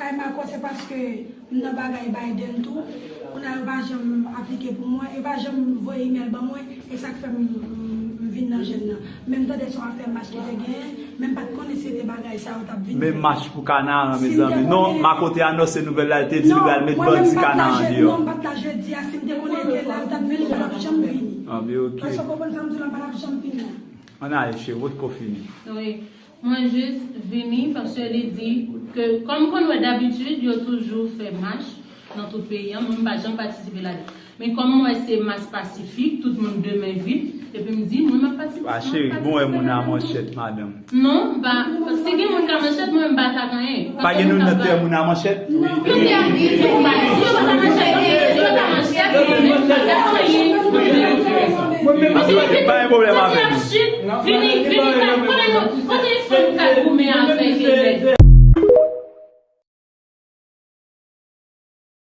Kay Marco se paske m nan bagay Biden tou kounye a yo pa janm aplike pou mwen yo pa janm voye email ban mwen e sak fè m vin nan jèn nan men m tande son afè mach ki te genyen men m pat konnen se te bagay sa yo tap vin fè. Men mach pou Kanaran mezanmi non Marco te anonse nouvèl la li te di li pral met bandi Kanaran deyò. Non m pat la jedi a si m te konnen li te la yo tap vini yo pap janm vini. Èske w konprann sa m di w la m pa tap janm vin la. Ann ale cheri wotko fini. Mwen jis vini paske li di ke kòm konn wè dabitid yo toujou fè mach nan tout peyi an, mwen m pa janm patisipe ladan. Men kòm m wè se mas pasifik, tout moun de men vip, epi m di mwen m ap patisipe ladan. Pa cheri, bon wè moun a manchèt madanm. Non, m pa, si gen moun k a manchèt mwen m pa atak anyen. Pa gen noun nan tè moun a manchèt? Pa gen pwoblèm avè nou.